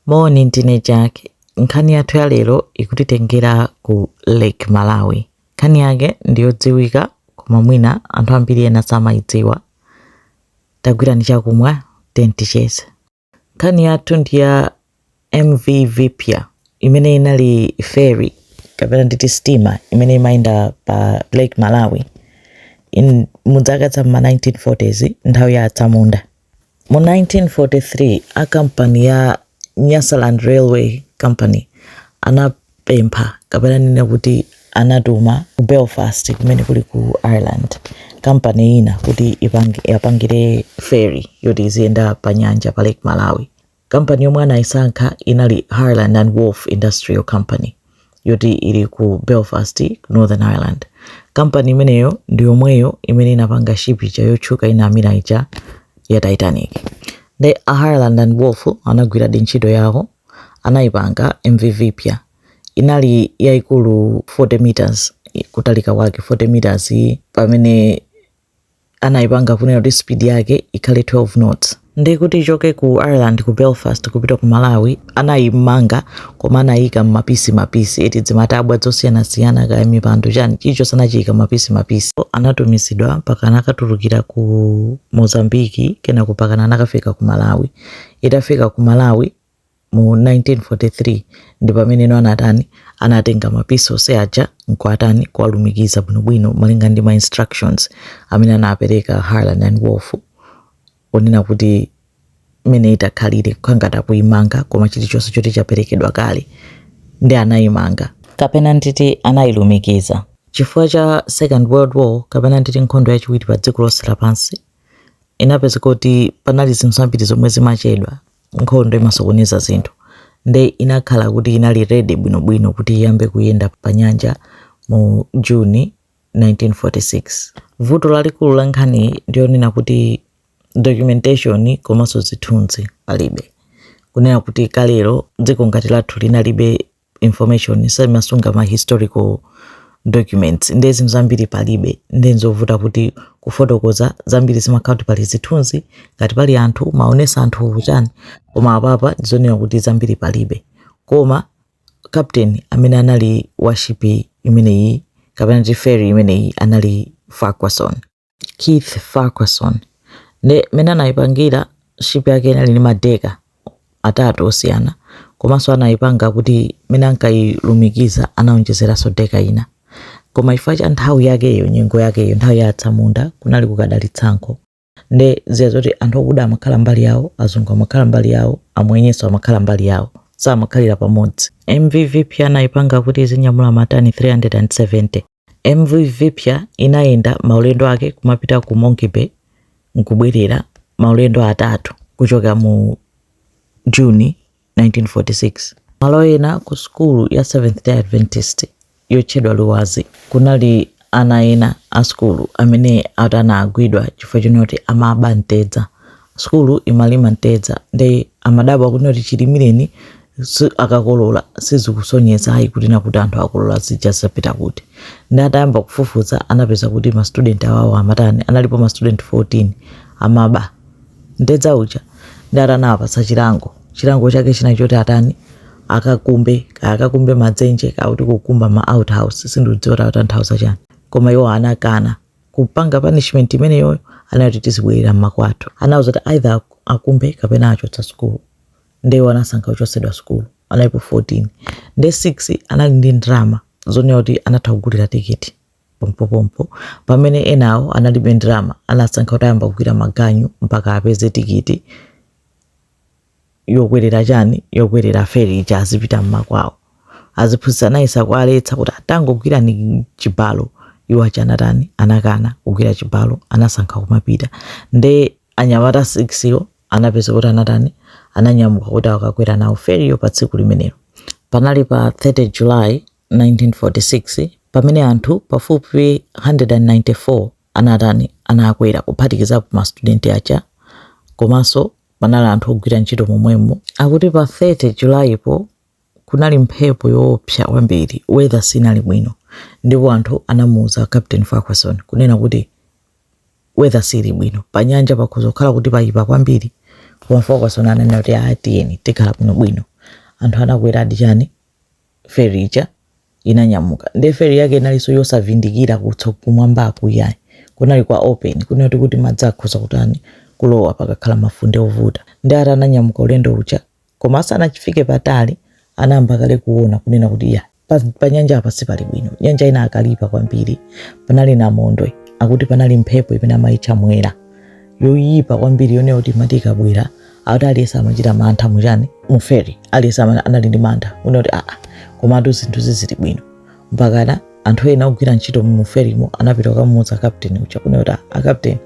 Moni ndine Jack. Nkhani yathu ya lero ikutitengera ku Lake Malawi. Nkhani yake ndi yodziwika koma mwina anthu ambiri ena samayidziwa. Tagwirani chakumwa tiyeni ticheze. Nkhani yathu ndi ya MV Viphya imene inali ferry kapena nditi steamer imene imayenda pa Lake Malawi in muzaka za m'ma 1940s nthawi ya atsamunda. Mu 1943, a kampani ya Nyasaland Railway Company anapempha, kapena ndinene kuti anatuma ku Belfast kumene kuli ku Ireland, kampani ina kuti iwapangire ferry yoti iziyenda panyanja pa Lake Malawi. Kampani yomwe anaisankha inali Harland and Wolff Industrial Company, yoti ili ku Belfast, Northern Ireland. Kampani imeneyo ndi yomweyo imene inapanga ship ija yotchuka inamira ija ya Titanic. Nde a Harland and Wolff anagwiradi ntchito yawo, anaipanga MV Viphya. Inali yaikulu 40 meters, kutalika kwake 40 meters pamene anayipanga kunena kuti speed yake ikhale 12 knots ndi kuti ichoke ku ireland ku belfast kupita ku malawi anayimanga koma anayika mmapisi mapisi eti zimatabwa zosiyanasiyana kaya mipando chani chichonse anachiyika mapisi mapisi anatumizidwa mpaka anakatulukira ku mozambiki kenako pakana anakafika ku malawi itafika ku malawi mu 1943 ndi pameneno anatani anatenga mapisi onse aja nkuatani kuwalumikiza bwinobwino malinga ndi ma instructions amene anapereka Harland and Wolff onena kuti mmene itakhalire kukhangati akuimanga koma chilichonse choti chaperekedwa kale nde anayimanga kapena nditi anayilumikiza chifukwa cha second world war kapena nditi nkhondo yachiwiri pa dziko lonse lapansi inapezeka kuti panali zinthu zambiri zomwe zimachedwa nkhondo imasokoneza zinthu nde inakhala kuti inali ready bwinobwino kuti iyambe kuyenda pa nyanja mu June 1946 vuto lalikulu la nkhaniyi ndi yonena kuti documentation komanso zithunzi palibe kunena kuti kalero dziko ngati lathu linalibe information simasunga ma historical documents nde zinthu zambiri palibe nde nzovuta kuti kufotokoza zambiri zimakhala kuti pali zithunzi ngati pali anthu maonesa anthu chani koma apapa ndizonena kuti zambiri palibe koma captain amene anali washipi imeneyi kapena kuti ferry imeneyi anali Farquharson Keith Farquharson nde mene anaipangira ship yake inali ndi madeka atatu osiyana komanso anaipanga kuti mene ankailumikiza anaonjezeranso deka ina koma chifukwa cha nthawi yakeyo nyengo yakeyo nthawi ya atsamunda kunali kukadali tsankho nde zija zoti anthu okuda amakhala mbali yawo azungu amakhala mbali yawo amwenyenso amakhala mbali yawo samakhalira pamodzi MV Viphya anaipanga kuti izinyamula matani 370 MV Viphya inayenda maulendo ake kumapita ku Monkey Bay n'kubwerera, maulendo atatu kuchoka mu June 1946. Malo ena ku sukulu ya Seventh-day Adventist yotchedwa Luwazi, kunali ana ena a sukulu amene akuti anagwidwa chifukwa chonena kuti amaba mtedza. Sukulu imalima mtedza nde amadabwa kuti chilimireni si- akakolola sizikusonyeza ayi kuti nakuti anthu akolola zija zapita kuti ndi atayamba kufufuza anapeza kuti ma student awawo amatani analipo ma student 14 amaba mtedza uja ndi atanawapatsa chilango chilango chake china choti atani akakumbe kaya akakumbe madzenje kaya kuti kukumba ma outhouse sindiudziwa tatanthauza chani koma iwo anakana kupanga punishment imeneyo anati tizibwerera mmakwathu anawauza kuti either ak- akumbe kapena achotsedwa sukulu nde iwo anasankha kuchotsedwa sukulu analipo 14 nde 6 anali ndi ndalama zonena kuti anatha kugulira tikiti pompopompo pamene enawo analibe ndalama anasankha kuti ayambe kugwira maganyu mpaka apeze tikiti yokwerera chani yokwerera feri ija azipita mmakwawo aziphunzitsi anayesa kuwaletsa kuti a tangogwirani chibalo iwo aja anatani anakana kugwira chibalo anasankha kumapita nde anyamata 6 yo anapeza kuti anatani ananyamuka kuti akakwere nawo feriyo pa tsiku limenelo panali pa 30 july 1946 pamene anthu pafupifupi 194 anatani anakwera kuphatikizapo ma student aja komanso panali anthu ogwira ntchito momwemo akuti pa 30 July po kunali mphepo yoopsa kwambiri weather sinali bwino ndipo anthu anamuuza Captain Farquharson kunena kuti weather sili bwino panyanja pakhoza kukhala kuti payipa kwambiri koma Farquharson ananena kuti a tiyeni tikhala bwino bwino anthu anakweradi chani feri ija inanyamuka nde feri yake inalinso yosavindikira kutso kumwambaku yayi kunali kwa open kunati kuti madzi akhoza kutani kulowa pakakhala mafunde ovuta nde ati ananyamuka ulendo uja koma asanachifike patali anayamba kale kuona kunena kuti ya pa, pa nyanja apa sipali bwino nyanja inakalipa kwambiri panali namondwe akuti panali mphepo imene amayitcha mwera yoyipa kwambiri yonena kuti imati ikabwera akuti aliyense amachita mantha muchani muferi aliyense amene anali ndi mantha kunena kuti aa komatu zinthu sizili bwino mpakana anthu ena ogwira ntchito muferimo anapita kukamuuza kapteni uja kunena kuti "Ah, akapteni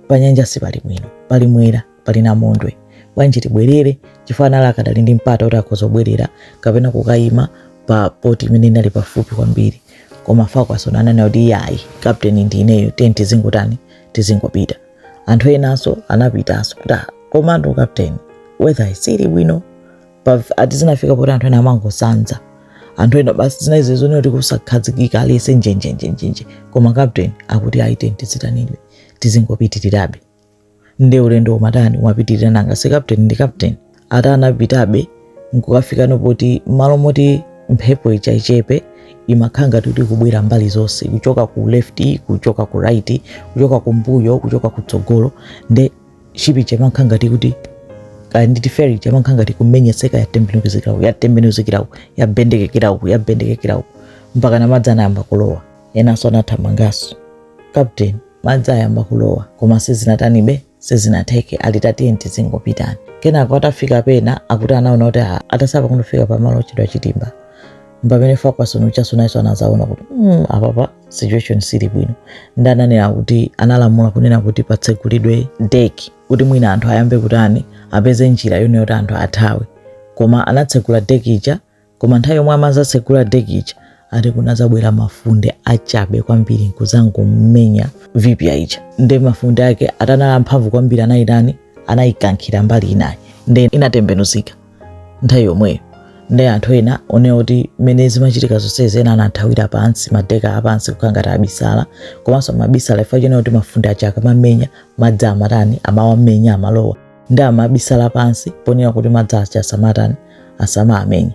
panyanja sipali bwino pali mwera pali namondwe bwanji tibwerere chifukwa anali akadali ndi mpata kuti akhoza kubwerera kapena kukayima pa poti imene inali pafupi kwambiri koma Fakwasoni ananena kuti iyayi kapteni ndi ineyo tiyeni tizingotani tizingopita anthu enanso anapitanso kuti "Ah, komatu kapteni weather siili bwino Pa- ati zinafika poti anthu ena amangosanza anthu ena basi zinaizi zonena kuti kusakhazikika aliyese njenjenjenjenje koma kapteni akuti ayi tiyeni tizitani ife tizingopitirirabe nde ulendo umatani umapitirira nanga si kapteni ndi kapteni ati anapitabe nkukafikano poti malo moti mphepo ija yachabe imakhala ngati kuti kubwera mbali zonse kuchoka ku left kuchoka ku right kuchoka kumbuyo kuchoka kutsogolo nde ship ija imakhala ngati kuti kaya nditi feri ija imakhala ngati kumenyetseka yatembenuzikira uku yatembenuzikira uku yabendekekera uku yabendekekera uku mpakana madzi anayamba kulowa enanso anathamanganso captain madzi ayamba kulowa koma sizinatanibe sizinatheke ati tiyeni tizingopitani kenako atafika pena akuti anaona kuti ah, atatsala pang'ono kufika pamalo otchedwa Chitimba mpamene fakwason uja tsopano nayenso anazaona kuti mm, apapa situation siili bwino nde ananena kuti analamula kunena kuti patsegulidwe deki kuti mwina anthu ayambe kutani apeze njira yonena kuti anthu athawe koma anatsegula deki ija Koma nthawi yomwe amazatsegula deki ija ati kunazabwera mafunde achabe kwambiri nkuzangomumenya Vipya ija nde mafunde ake ati anali amphamvu kwambiri anayitani anayikankhira mbali inayo nde inatembenuzika nthawi yomweyo nde anthu ena onani kuti mmene zimachitika zonsezi ena anathawira pansi madeka apansi kukhala ngati abisala komanso amabisala chifukwa chonena kuti mafunde aja akamamenya madzi amatani amawamenya amalowa nde amabisala pansi ponena kuti madzi aja asamatani asamawamenye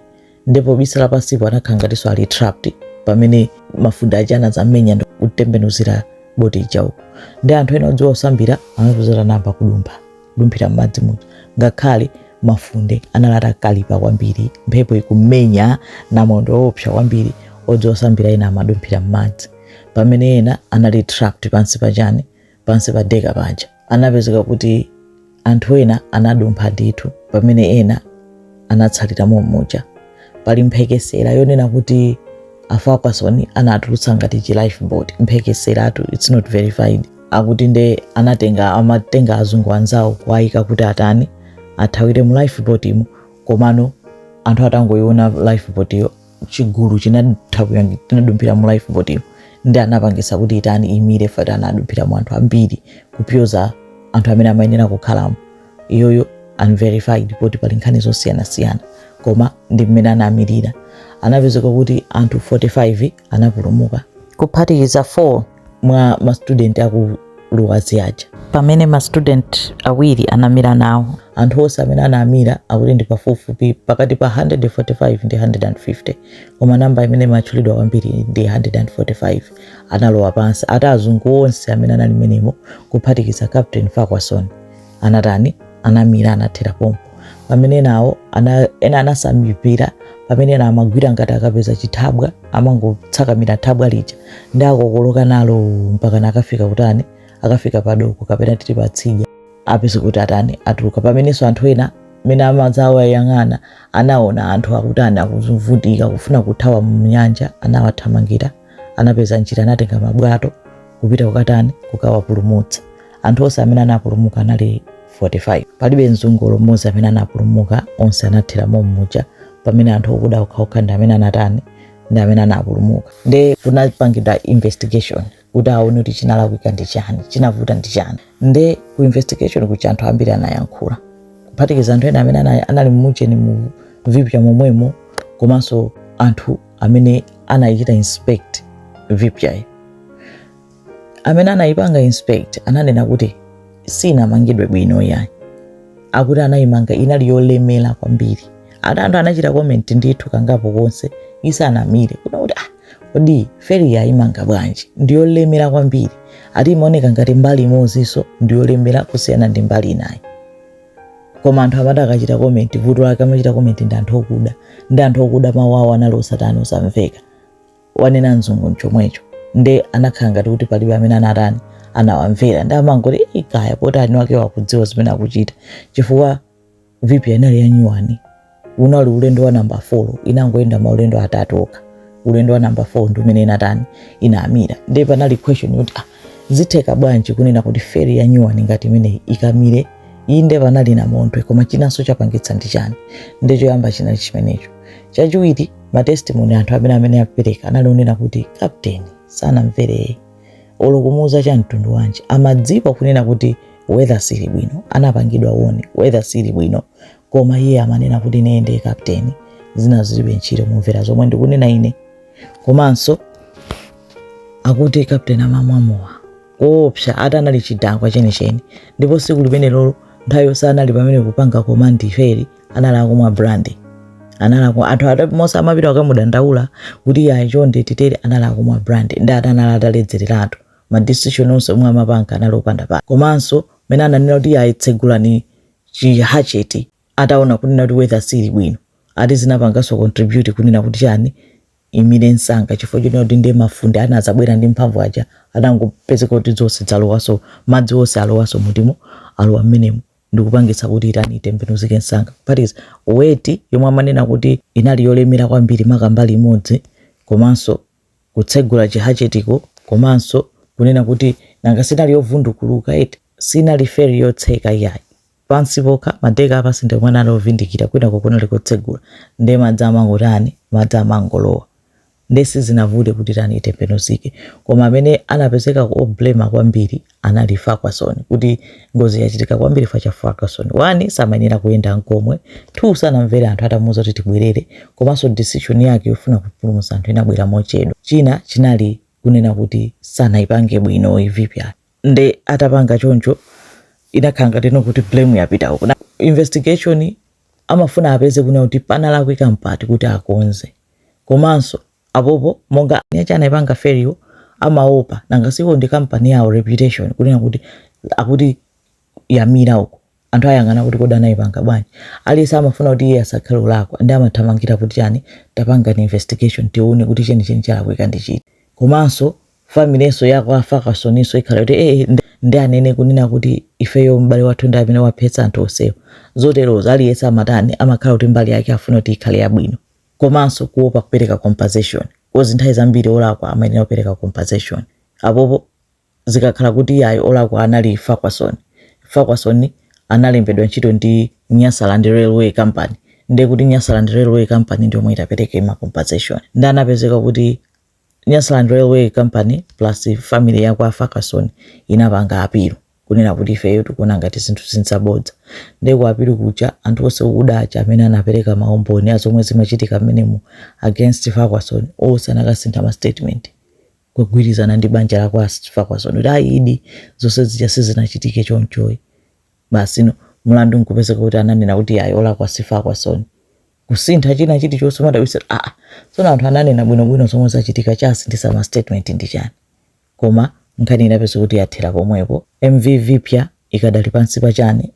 nde pobisala pansipo anakhala ngatinso ali trapped pamene mafunde aja anazamenya ndi kutembenuzira boti ija uko nde anthu ena odziwa kusambira anapezera mpata kudumpha kudumphira m'madzi muja ngakhale mafunde anali atakalipa kwambiri mphepo ikumenya namondwe woopsa kwambiri odziwa kusambira ena amadumphira m'madzi pamene ena anali trapped pansi pachani pansi pa deka paja anapezeka kuti anthu ena anadumpha ndithu pamene ena anatsalira mommuja pali mphekesera yonena kuti a Fakwasoni anatulutsa ngati chi lifeboat mphekeseratu its not verified akuti nde anatenga amatenga azungu anzawo kuwayika kuti atani athawire mu lifeboat mo komano anthu atangoyiona lifeboat yo chigulu chinatha kuyangi- tinadumphira mu life boat iyo ndi anapangisa kuti itani imire fati anadumphira mu anthu ambiri kupyoza anthu amene amayenera kukhalamo iyoyo unverified poti pali nkhani zosiyanasiyana koma ndi mmene anamirira anapezeka kuti anthu 45 anapulumuka kuphatikiza 4 mwa mastudenti aku luwazi aja pamene mastudenti awiri anamira nawo anthu onse amene anamira akuti ndi pafupifupi pakati pa 145 ndi 150 koma namba imene imatchulidwa kwambiri ndi 145 analowa pansi ati azungu onse amene anali mmenemo kuphatikiza captain Farquharson anatani anamira anathera pompo pamene nawo ena anasambira pamene ena amagwira ngati akapeza chithabwa amangotsakamira thabwa lija ndi akokoloka nalo mpaka nakafika kutani akafika padoko kapena titi patsidya apeza kuti atani atuluka pamenenso anthu ena mene amadzawayang'ana anaona anthu akutani akuvutika kufuna kuthawa mnyanja anawathamangira anapeza njira anatenga mabwato kupita kukatani kukawapulumutsa anthu onse amene anapulumuka anali 45 palibe mzungu olo mmodzi amene anapulumuka onse anathera mommuja pamene anthu okuda okhaokha ndi amene anatani ndi amene anapulumuka nde kunapangidwa investigation kuti aone kuti chinalakwika ndi chani chinavuta ndi chani nde ku investigation kuja anthu ambiri anayankhula kuphatikiza anthu ena amene ana- anali mmucheni mu Vipya momwemo komanso anthu amene anaichita inspect Vipyayi amene anayipanga inspect ananena kuti sinamangidwe bwino yayi akuti anayimanga inali yolemera kwambiri ati anthu anachita comment ndithu kangapo konse isanamire kunena kuti ah kodi feri yayimanga bwanji ndiyolemera kwambiri ati imaoneka ngati mbali imodzinso ndiyolemera kusiyana ndi mbali inayi koma anthu amati akachita komenti vuto lake amachita komenti ndi anthu okuda ndi anthu okuda mawu awo anali osatani osamveka wanena mzungu nchomwecho nde anakhala ngati kuti palibe amene anatani anawamvera ndi amangoti "Ii, kaya poti eni ake akudziwa zimene akuchita chifukwa Vipya inali yanyuwani unali ulendo wa namba 4 inangoyenda maulendo atatu okha ulendo wa namba 4 ndi umene inatani inamira ndiye panali question yoti ah, zitheka bwanji kunena kuti feri ya nyuwani ngati imeneyi ikamire inde panali namondwe koma chinanso chapangitsa ndi chani ndi choyamba chinali chimenecho chachiwiri matestimoni anthu amene amapereka anali onena kuti kapteni sanamvere iye olo kumuuza cha mtundu wanji amadziwa kunena kuti weather sili bwino anapangidwa warn weather sili bwino koma iye amanena kuti ineye ndiye kapteni zina zilibe ntchito mumvera zomwe ndikunena ine komanso akuti kapteni amamwa mowa koopsa ati anali chidakwa chenicheni ndipo tsiku limenelolo nthawi yonse anali pamene kupanga komandi feri anali akumwa brandi anali akumwa anthu atamuuza amapita akamudandaula kuti ayi chonde titere anali akumwa brandi ndi ati anali ataledzereratu madisishoni onse omwe amapanga anali opanda pake komanso mene ananena kuti ayi tsegulani chihacheti ataona kunena kuti weather siili bwino ati zinapanganso contribute kunena kuti chani imire nsanga chifukwa chonena kuti ndiye mafunde anadzabwera ndi mphamvu aja anangopezeka kuti zonse zalowanso madzi onse alowanso mutimo alowa mmenemo ndikupangitsa kuti itani itembenuzike nsanga plus weight yomwe amanena kuti inali yolemera kwambiri maka mbali imodzi komanso kutsegula chihachetiko komanso kunena kuti nanga sinali yovundukuluka eti? Sinali feri yotseka iyayi. Pansi pokha, madeka a pansi ndi omwe anali ovindikira, kwinako kunali kotsegula. Ndiye madzi amangotani? Madzi amangolowa. Ndiye sizinavute kuti tani itembenuzike. Koma amene anapezeka o blame kwambiri anali Farquharson kuti ngozi yachitika kwambiri fa cha Farquharson 1 samayenera kuyenda nkomwe 2 sanamvere anthu atamuuza kuti tibwerere komanso decision yake yofuna kupulumutsa anthu inabwera mochedwa china chinali kunena kuti sanaipange bwino iyi Vipya nde atapanga choncho inakhala ngati ino kuti blame yapita uko Na- investigation amafuna apeze kunena kuti panalakwika mpati kuti akonze komanso apopo monga aja anaipanga feriwo amaopa nanga siko ndi company yawo reputation kunena kuti akuti yamira uko anthu ayang'ana kuti kodi anaipanga bwanji aliyense amafuna kuti iye asakhale olakwa nde amathamangira kuti chani tapangani investigation tione kuti chenicheni chalakwika ndi chiti komanso familinso ya kwa a Farquharson nso ikhala kuti ee ndi- ndi anene kunena kuti ifeyo m'bale wathu ndi amene waphetsa anthu onsewo zoterozo aliyense amatani amakhala kuti mbali yake afuna kuti ikhale yabwino komanso kuopa kupereka compensation coz nthawi zambiri olakwa amayenera kupereka compensation apopo zikakhala kuti yayi olakwa anali Farquharson Farquharson analembedwa ntchito ndi nyasaland railway company ndekuti nyasaland railway company ndiyomwe itapereke ma compensation nde anapezeka kuti Nyasaland Railway Company plus family ya kwa Farquharson inapanga apilu kunena kuti ifeyo tikuona ngati zinthu izi nzabodza nde ku apilu kuja anthu onse okuda aja amene anapereka maumboni a zomwe zimachitika mmenemu against Farquharson onse anakasintha ma statement kugwirizana ndi banja la kwa Farquharson kuti ayidi zonse zija sizinachitike chonchoyi basi no mlandu nkupezeka kuti ananena kuti ayi olakwa si Farquharson kusintha china chilichonse umadabwitsa kuti aa tsono anthu ananena bwinobwino zomwe zachitika chasinthitsa ma statement ndi chani koma nkhani inapezeka kuti yathera pomwepo mv vipya ikadali pansi pa chani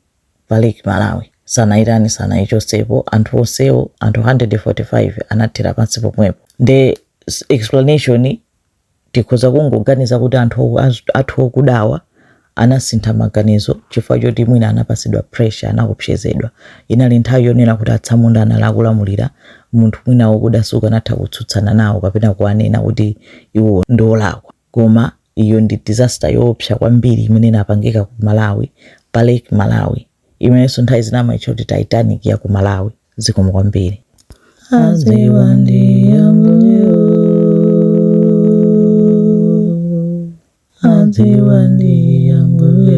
pa lake malawi sanayitani sanayichotsepo anthu onsewo anthu 145 anathera pansi pomwepo nde s- explanation tikhoza kungoganiza kuti anthu okudawa anasintha maganizo chifukwa choti mwina anapatsidwa pressure, anaopsezedwa. Inali nthawi yonena kuti atsamunda anali akulamulira, munthu mwina wokuda sukanatha kutsutsana nawo kapena kuwanena kuti iwo ndi olakwa. Koma iyo ndi disaster yoopsa kwambiri imene inapangika ku Malawi, pa Lake Malawi, imenenso nthawi zina amaitcha kuti Titanic ya ku Malawi. zikomo kwambiri aziwa ndi ambuye aziwa ndi ambuye